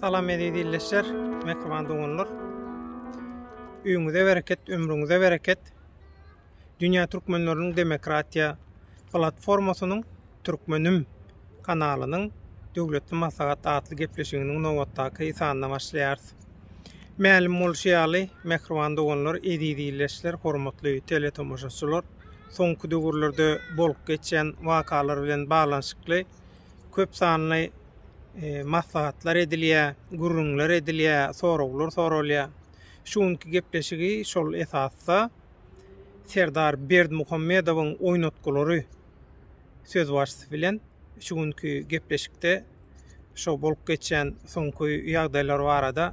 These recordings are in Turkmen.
Salam eziz illeşler, mehriban doganlar. Öňüňize bereket, ömrüňize bereket. Dünýä Türkmenleriniň Demokratiýa Platformasynyň Türkmenim kanalynyň Döwletli maslahat atly gepleşiginiň nobatdaky sanyna başlaýarys. Mälim bolşy ýaly, mähriban doganlar, eziz ildeşler, hormatly teletomaşaçylar, soňky döwürlerde bolup geçýän wakalar bilen baglanyşykly köp sanly maslahatlar edilýär, gürrüňler edilýär, soraglar soralýar. Şu günki gepleşigi şol esasda Serdar Berdimuhamedowyň oýnatgylary sözbaşysy bilen şu günki gepleşikde şu bolup geçýän soňky ýagdaýlar barada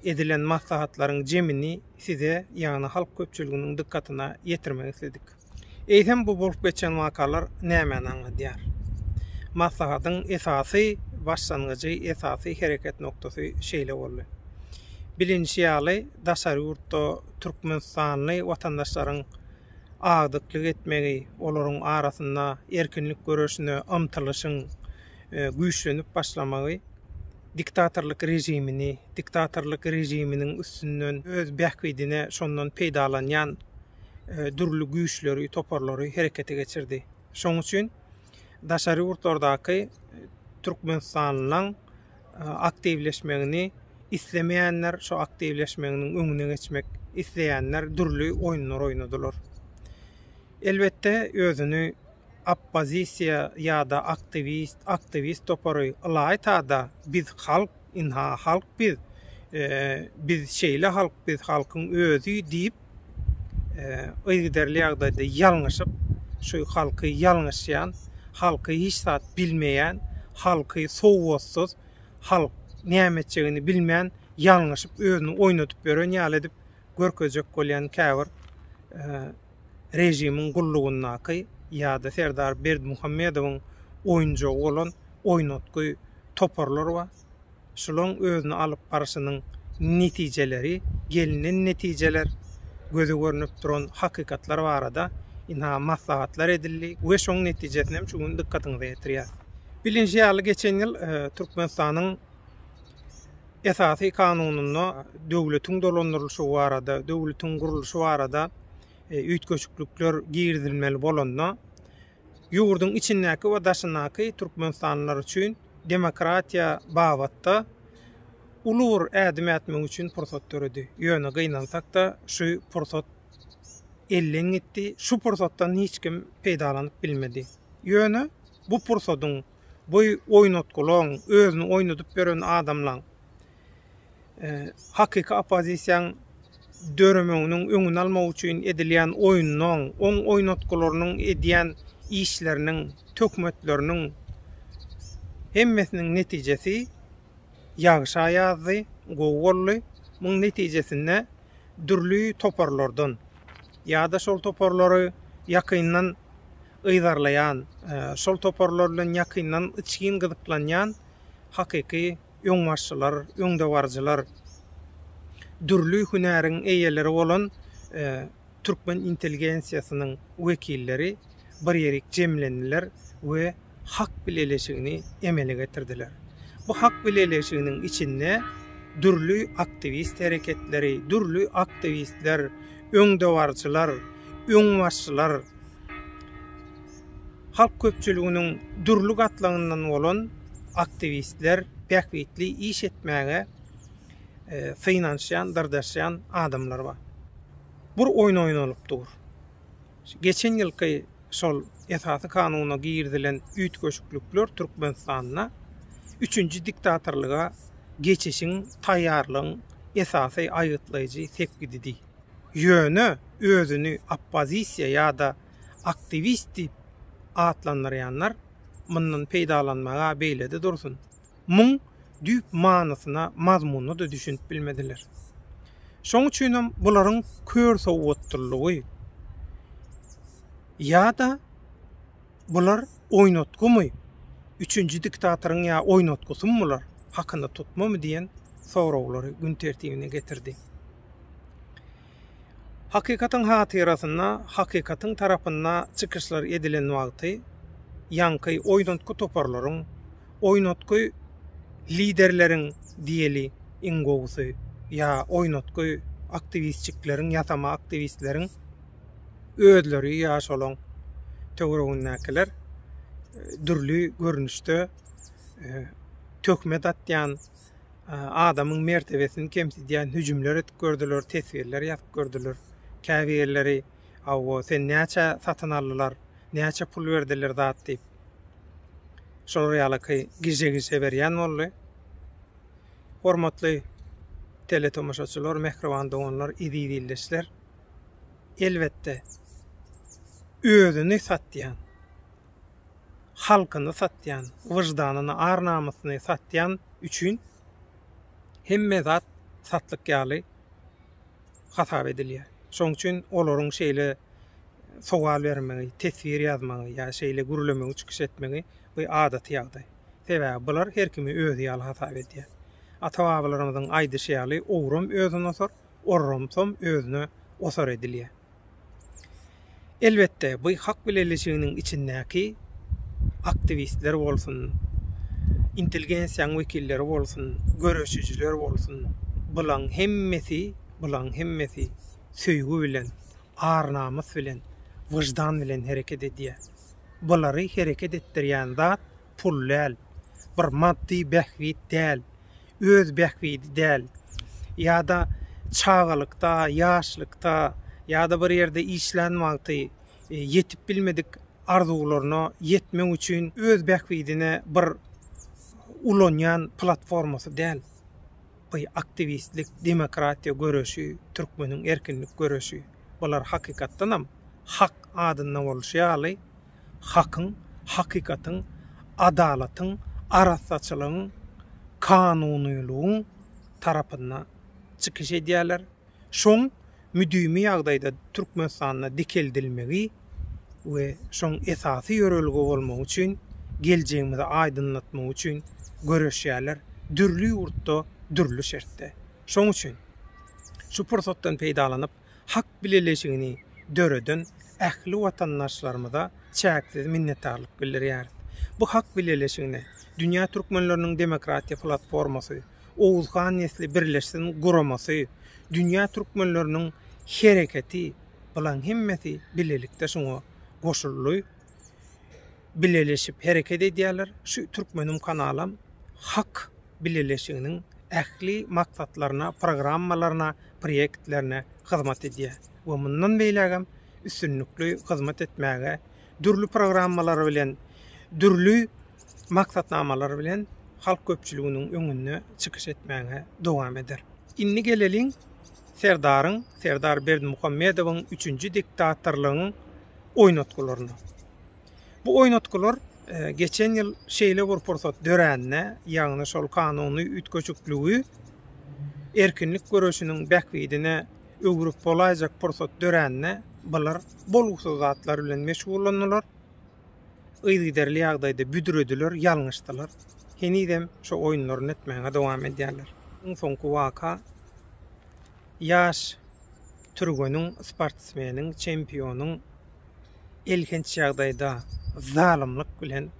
edilen maslahatlaryň jemini size, ýagny halk köpçüliginiň dykgatyna ýetirmek isledik. Eýsem bu bolup geçen wakalar nämäni aňladýar? Maslahatyň esasy başlangyjy, esasy hereket noktasy şeýle boldy. Bilinişi ýaly, daşary ýurtda türkmenistanly watandaşlaryň agdyklyk etmegi, olaryň arasynda erkinlik göreşine ymtylyşyň güýçlenip başlamagy diktatorlyk režimini, diktatorlyk režiminiň üstünden öz bähbidine şondan peýdalanýan dürli güýçleri, toparlary herekete geçirdi. Şoň üçin daşary ýurtlardaky e, türkmenistanlylaryň e, aktiwleşmegini islemeýänler, şu aktiwleşmeginiň öňüne geçmek isleýänler dürli oýunlar oýnadylar. Elbetde özüni oppozisiýa ýa-da aktiwist, aktiwist topary ylaýta-da biz halk Ynha halk biz, biz şeýle halk, biz halkyň özi diýip, yzygiderli ýagdaýda ýalňyşyp, şu halky ýalňyşýan, halky hiç zat bilmeýän, halky sowatsyz, halk näme etjegini bilmän ýalňyşyp özüni oýnadyp ýören ýaly edip görkezjek bolýan käbir režimiň gullugyndaky ýa-da Serdar Berdimuhamedowyň oýunjagy bolan oýnatgy toparlar bar. Şularyň özüni alyp barşynyň netijeleri, gelnen netijeler, göze görnüp duran hakykatlar barada ynha maslahatlar edildi we şoň netijesini hem şu gün dykgatyňyza ýetirýäris. Bilinşi ýaly, geçen ýyl Türkmenistanyň Esasy Kanunynda döwletiň dolandyrylyşy barada, döwletiň gurluşy barada üýtgeşiklikler girizilmeli bolanda, ýurduň içindäki we daşyndaky türkmenistanlylar üçin demokratiýa babatda uly bir ädim ätmek üçin pursat döredi. Ýöne gynansak-da, şu pursat elden gitdi, şu pursatdan hiç kim peýdalanyp bilmedi. Ýöne bu pursadyň bu oýnatgylaň özüni oýnadyp beren adamlaň hakyky oppozisiýaň döremeginiň öňüni almak üçin edilýän oýnunyň, oň oýnatgylarynyň edýän işleriniň, töhmetleriniň hemmesiniň netijesi ýagşa ýazdy, gowy boldy. Muň netijesinde dürli toparlardan ýa-da şol toparlary ýakyndan yzarlaýan, şol toparlar bilen ýakyndan içgin gyzyklanýan hakyky öňbaşçylar, öňdebaryjylar, dürli hünäriň eýeleri bolan türkmen intelligensiýasynyň wekilleri bir ýerik jemlendiler we hak bileleşigini emele getirdiler. Bu hak bileleşiginiň içinde dürli aktiwist hereketleri, dürli aktiwistler, öňdebaryjylar, öňbaşçylar, Halk köpçüliginiň dürli gatlagyndan bolan aktiwistler, bähbitli iş etmäge synanyşýan, dyrjaşýan adamlar bar. Bir oýun oýnalyp dur. Geçen ýylky şol Esasy Kanuna girizilen üýtgeşiklikler Türkmenistanda üçünji diktatorlyga geçişiň taýýarlygyň esasy aýgytlaýjy sepgididi. Ýöne özüni oppozisiýa ýa-da aktiwist diýip atlandyrýanlar mundan peýdalanmaga beýlede dursun, muň düýp manysyna, mazmunyna-da düşünip bilmediler. Şoň üçinem bularyň kör sowatlylygy ýa-da bular oýnatgymy, üçünji diktatoryň ýa oýnatgysymy bular, hakynda tutmamy diýen soraglary gün tertibine getirdi. Hakykatyň hatyrasyna hakykatyň tarapynda çykyşlar edilen wagty ýaňky oýnatgy toparlaryň, oýnatgy liderleriň diýeli iň gowusy ýa oýnatgy aktiwistjikleriň, ýasama aktiwistleriň özleri ýa şolaň töweregindäkiler dürli görnüşde töhmet atýan, adamyň mertebesini kemsidýän hüjümler edip gördüler, teswirler ýazyp gördüler. Käbirleri Awwo, sen näçe satyn aldylar, näçe pul berdiler zat diýip. Şolar ýalyky gije-gije berýän boldy. Hormatly teletomaşaçylar, mähriban doganlar, eziz ildeşler. Elbetde özüni satýan halkyny satýan, wyždanyny, ar-namysyny satýan üçin hemme zat satlyk ýaly hasap edilýär. Şonuň üçin olaryň şeýle sowal bermegi, teswir ýazmagy ýa şeýle gürlemegi, çykyş etmegi bu adaty ýagdaý. Sebäbi bular her kimi özi ýaly hasap edýär. Ata-babalarymyzyň aýdyşy ýaly, owram özüni osar. orramsom özüne osar edilýär. Elbetde, bu hak bileleşiginiň içindäki aktiwistler bolsun, intelgensiýaň wekilleri bolsun, göreşijiler bolsun, bulaň hemmesi, bulaň hemmesi söýgi bilen, ar-namys bilen, wyždan bilen hereket edýär. Bulary hereket etdirýän zat pul däl, bir maddy bähbit däl, öz bähbidi däl, ýa-da çagalykda, ýaşlykda, ýa-da bir ýerde işlän wagty ýetip bilmedik arzuwlaryna ýetmek üçin öz bähbidine bir ulanýan platformasy däl bu aktiwistlik, demokratiýa göreşi, türkmeniň erkinlik göreşi. Bular hakykatdanam hak adynda bolşy ýaly, hakyň, hakykatyň, adalatyň, arassaçylygyň, kanunylygyň tarapynda çykyş edýärler. Şoň müdimi ýagdaýda Türkmenistanda dikeldilmegi we şoň esasy ýörelge bolmagy üçin, geljegimizi aýdyňlatmagy üçin göreşýärler, dürli ýurtda, dürli şertde. Şoň üçin şu pursatdan peýdalanyp, hak bileleşigini döreden ähli watandaşlarymyza çäksiz minnetdarlyk bildirýäris. Bu hak bileleşigine Dünýä türkmenleriniň demokratiýa platformasy, Oguzhan nesli birleşsin guramasy, Dünýä türkmenleriniň hereketi, bulaň hemmesi bilelikde şuňa goşuldy. bileleşip hereket edýärler. Şu Türkmenim kanalam Hak bileleşiginiň ähli maksatlaryna, programmalaryna, proýektlerine hyzmat edýär we mundan beýlägem üstünlikli hyzmat etmäge, dürli programmalary bilen, dürli maksatnamalary bilen halk köpçüliginiň öňünde çykyş etmäge dowam eder. Indi geleliň Serdaryň, Serdar Berdimuhamedowyň üçünji diktatorlygyň oýnatgylaryna. Bu oýnatgylar geçen ýyl şeýle bir pursat dörände, ýagny şol kanuny üýtgeşikligi erkinlik göreşiniň bähbidine öwrüp bolaýjak pursat dörände, bular bolgusyz zatlar bilen meşgullandylar. yzygiderli ýagdaýda büdrediler, ýalňyşdylar. Henizem şu oýunlaryny etmäge dowam edýärler. Iň soňky waka ýaş türgeniň, sportsmeniň, çempionyň elhenç ýagdaýda zalymlyk bilen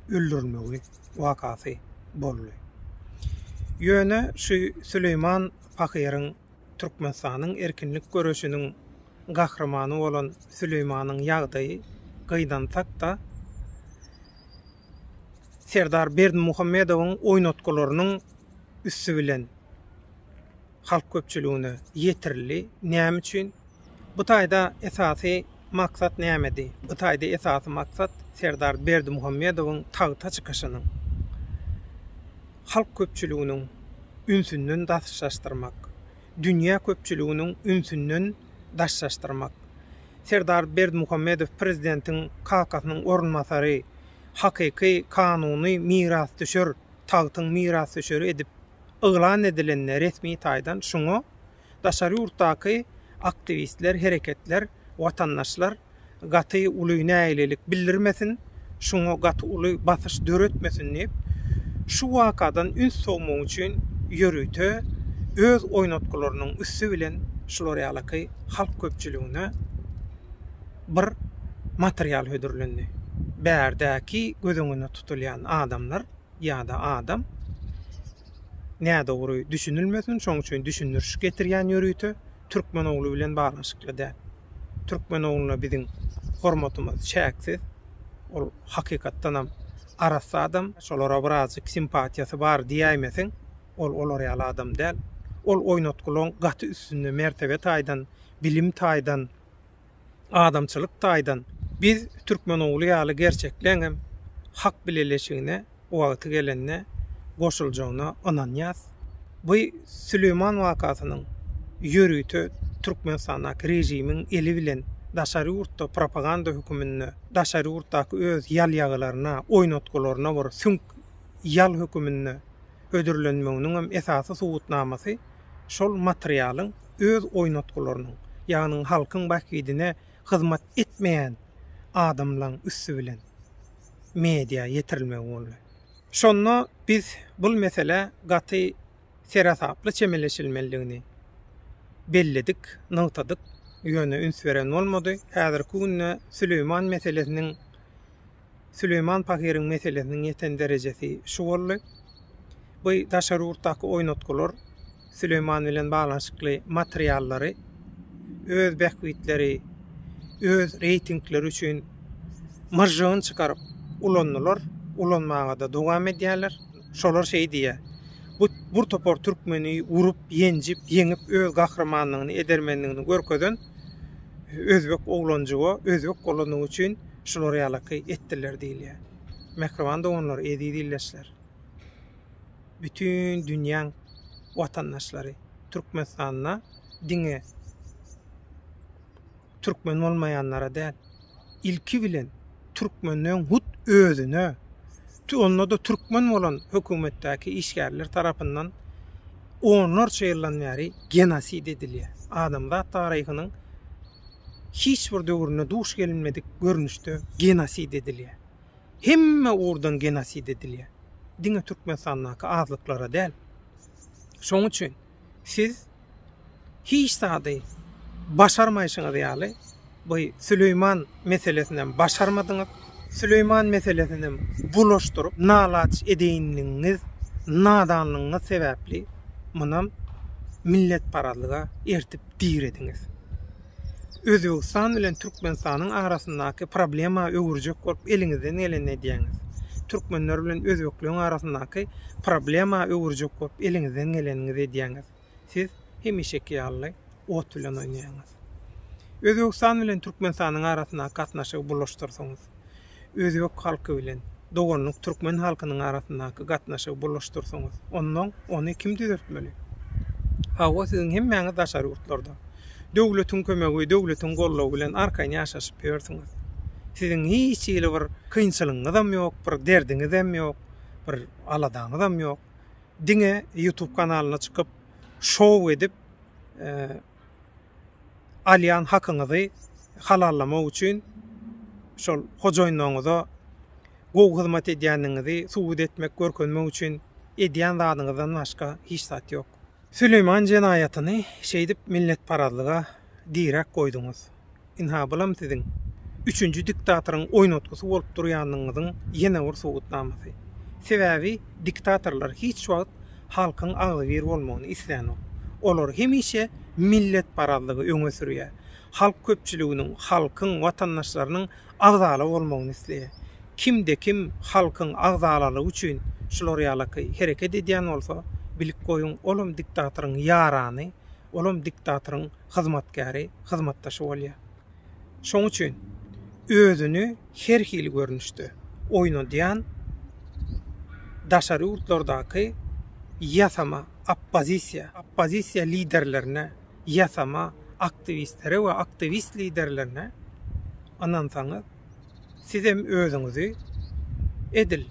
öldürilmegi wakasy boldy. Ýöne şu Süleýman pahyryň Türkmenistanyň erkinlik göreşiniň gahrymany bolan Süleýmanyň ýagdaýy gynansakda, Serdar Berdimuhamedowyň oýnatgylarynyň üsti bilen halk köpçüligine ýetirildi. Näme üçin? Bu taýda esasy maksat nämedi? Bu taýda esasy maksat Serdar Berdimuhamedowyň tagta çykyşynyň halk köpçüliginiň ünsünden daşlaşdyrmak, dünýä köpçüliginiň ünsünden daşlaşdyrmak. Serdar Berdimuhamedow prezidentiň kakasynyň orunbasary, hakyky kanuny mirasdüşer, tagtyň mirasdüşeri edip yglan edilende resmi taýdan şuňa Daşary ýurtdaky aktiwistler, hereketler, watandaşlar gaty uly nägilelik bildirmesin, şuňa gaty uly basyş döretmesin diýip, şu wakadan üns sowmak üçin ýörite öz oýnatgylarynyň üsti bilen şular ýalaky halk köpçüligine bir material hödürlendi. Bärdäki göz öňünde tutulýan adamlar. ýa-da adam nädogry düşünilmesin, şonuň üçin düşündiriş getirýän ýörite türkmen ogly bilen baglanyşykly däl. Türkmen ogluna biziň hormatymyz çäksiz. Ol hakykatdanam arassa adam. Şolara birazjyk simpatiýasy bar diýäýmeseň, ol olar ýaly adam däl. Ol oýnatgylaň gaty üstünde, mertebe taýdan, bilim taýdan adamçylyk taýdan biz Türkmenogly ýaly gerçekleňem hak bileleşigine wagty gelende goşuljagyna ynanýas. Bu Süleýman wakasynyň ýörite Türkmenistandaky režimiň eli bilen daşary ýurtda propaganda höküminde daşary ýurtdaky öz ýalýagylaryna, oýnatgylaryna bir süňk ýal höküminde hödürlenmeginiňem esasy subutnamasy şol materialyň öz oýnatgylarynyň, ýagny halkyň bähbidine hyzmat etmeýän adamlaň üsti bilen media ýetirilmegi boldy. Şonda biz bul meselä gaty seresaply çemeleşilmelidigini belledik, nygtadyk, ýöne üns beren bolmady. Häzirki günde Süleýman meselesiniň, Süleýman pahyryň meselesiniň ýeten derejesi şu boldy. Bu daşary ýurtdaky oýnatgylar. Süleýman bilen baglanyşykly materiallary öz bähbitleri, öz reýtingleri üçin myžžygyny çykaryp ulandylar, ulanmaga-da dowam edýärler. Şolar şeý diýýär, Bu bir topar türkmeni urup, ýenjip, ýeňip, öz gahrymanlygyny, edermenligini görkezen özbek oglanjygy, özbek bolandygy üçin şular ýalaky etdiler diýilýär. Mähriban doganlar, eziz ildeşler! bütin dünýäň watandaşlary Türkmenistanda diňe türkmen bolmaýanlara däl, ilki bilen türkmenleň hut özüne, onda-da türkmen bolan hökümetdäki işgärler tarapyndan onlarça ýyldan bäri genosid edilýär. Adamzat taryhynyň hiç bir döwründe duş gelinmedik görnüşde genosid edilýär. Hemme ugurdan genosid edilýär. Diňe Türkmenistandaky azlyklara däl. Şoň üçin siz hiç zady başarmaýşyňyz ýaly bu Süleýman meselesinem başarmadyňyz. Süleýman meselesinem bulaşdyryp nalaç edeýinligiňiz, nadanlygyňyz sebäpli munam milletparazlyga ertip dirediňiz. Özbegistan bilen Türkmenistanyň arasyndaky problema öwürjek bolup eliňizden geleni edýäňiz. Türkmenler bilen özbekleriň arasyndaky problema öwürjek bolup eliňizden geleniňizi edýäňiz. Siz hemişeki ýaly ot bilen oýnaýaňyz. Özbegistan bilen Türkmenistanyň arasyndaky gatnaşygy bulaşdyrdyňyz. özbek halky bilen doganlyk türkmen halkynyň arasyndaky gatnaşygy bulaşdyrsaňyz, onnoň ony kim düzeltmeli? Hawa, siziň hemmäňiz daşary ýurtlarda, döwletiň kömegi, döwletiň goldawy bilen arkaýyn ýaşaşyp ýörsüňiz. Siziň hiç hili bir kynçylygyňyzam ýok, bir derdiňizem ýok, bir aladaňyzam ýok. Diňe YouTube kanalyna çykyp, şou edip, alýan hakyňyzy halallamak üçin şol hojaýynlaryňyza gowy hyzmat edýändigiňizi subut etmek, görkezmek üçin edýän zadyňyzdan başga hiç zat ýok. Süleýman jenaýatyny şeýdip milletparazlyga direk goýduňyz. Ynha, bulam siziň üçünji diktatoryň oýnatgysy bolup durýanyňyzyň ýene bir subutnamasy. Sebäbi diktatorlar hiç wagt halkyň agzybir bolmagyny islänok. Olar hemişe milletparazlygy öňe sürýär. Halk köpçüliginiň, halkyň, watandaşlarynyň agzala bolmagyny isleýär. Kimde-kim halkyň agzalalygy üçin şular ýalaky hereket edýän bolsa, bilip goýuň, olam diktatoryň ýarany, olam diktatoryň hyzmatkäri, hyzmatdaşy bolýar. Şoň üçin özüni her hili görnüşde oýnadýan daşary ýurtlardaky ýasama oppozisiýa, oppozisiýa liderlerine, ýasama aktiwistlere we aktiwist liderlerine ynansaňyz, sizem özüňizi edil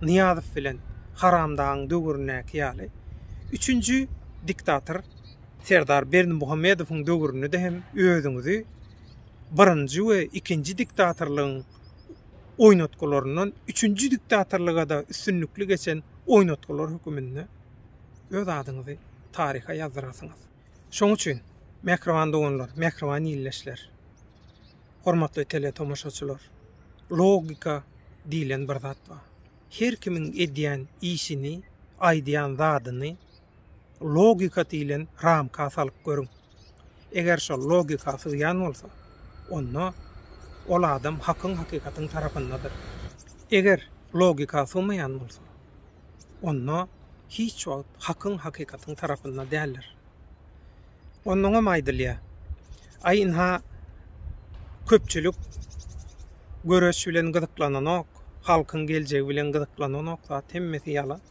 Nyýazow bilen Haramdagyň döwründäki ýaly üçünji diktator, Serdar Berdimuhamedowyň döwründe hem özüňizi birinji we ikinji diktatorlygyň oýnatgylaryndan üçünji diktatorlyga-da üstünlikli geçen oýnatgylar höküminde öz adyňyzy taryha ýazdyrarsyňyz. Şoň üçin, mähriban doganlar, mähriban ildeşler, hormatly teletomaşaçylar, logika diýlen bir zat bar. Her kimiň edýän işini, aýdýan zadyny, logika diýlen ramka salyp görüň. Eger şol logika sygýan bolsa, onda ol adam hakyň hakykatyň tarapyndadyr. Eger logika sygmaýan bolsa, onda hiç wagt hakyň hakykatyň tarapynda däldir. Onnoňam aýdylýar, Aý ynha köpçülik göreş bilen gyzyklananok, halkyň geljegi bilen gyzyklananok zat hemmesi ýalan.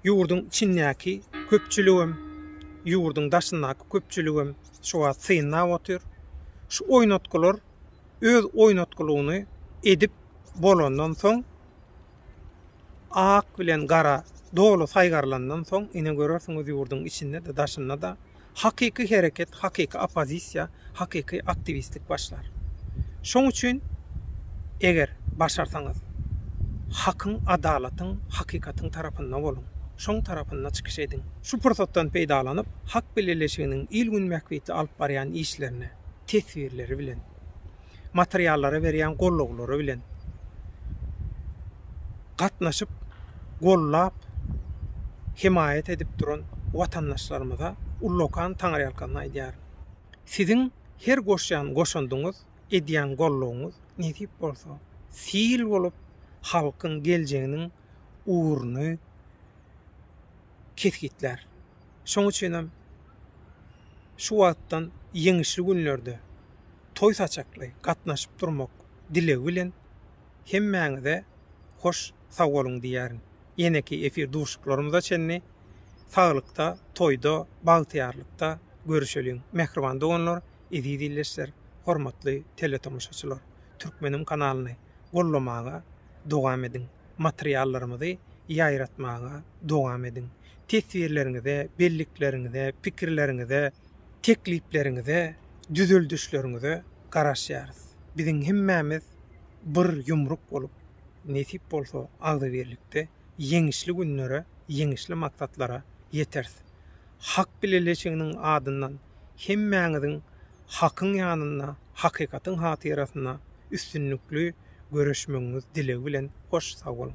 Ýurduň içindäki köpçüligem, ýurduň daşyndaky köpçüligem şu wagt synlap otyr. Şu oýnatgylar öz oýnatgylygyny edip bolandan soň, ak bilen gara doly saýgarlandan soň, ine görersiňiz ýurduň içinde-de, daşynda-da Hakyky hereket, hakyky oppozisiýa, hakyky aktiwistlik başlar. Şoň üçin eger başarsaňyz, hakyň, adalatyň, hakykatyň tarapynda boluň, şoň tarapynda çykyş ediň. Şu pursatdan peýdalanyp, Hak bileleşiginiň il-gün bähbitli alyp barýan işlerini, teswirleri bilen. materiallara berýän gollaglary bilen gatnaşyp, gollap, hemaýat edip duran watandaşlarymyza ullakan taňryýalkazyn aýdýaryn. Siziň her goşýan goşandyňyz, edýän gollagyňyz nesip bolsa, sil bolup halkyň geljeginiň ugruny kesgitlär. Şonuň üçinem şu wagtdan ýeňişli günlerde, toý saçakly gatnaşyp durmak dilegi bilen hemmäňize hoş sag boluň diýýärin. Ýeneki efir duşuklarymyza çenli saglykda, toýda, bagtyýarlykda görüşeliň. Mähriban doganlar, eziz ildeşler, hormatly teletomaşaçylar! Türkmenim kanalyny gollamaga dowam ediň! Materiallarymyzy ýaýratmaga dowam ediň! Teswirleriňize, bellikleriňize, pikirleriňize, teklipleriňize, düzeldişleriňize garaşýarys. Biziň hemmämiz bir ýumruk bolup, nesip bolsa agzybirlikde ýeňişli günlere, ýeňişli maksatlara ýeteris. Hak bileleşiginiň adyndan hemmäňiziň hakyň ýanynda, hakykatyň hatyrasynda üstünlikli göreşmegiňiz dilegi bilen hoş sag boluň.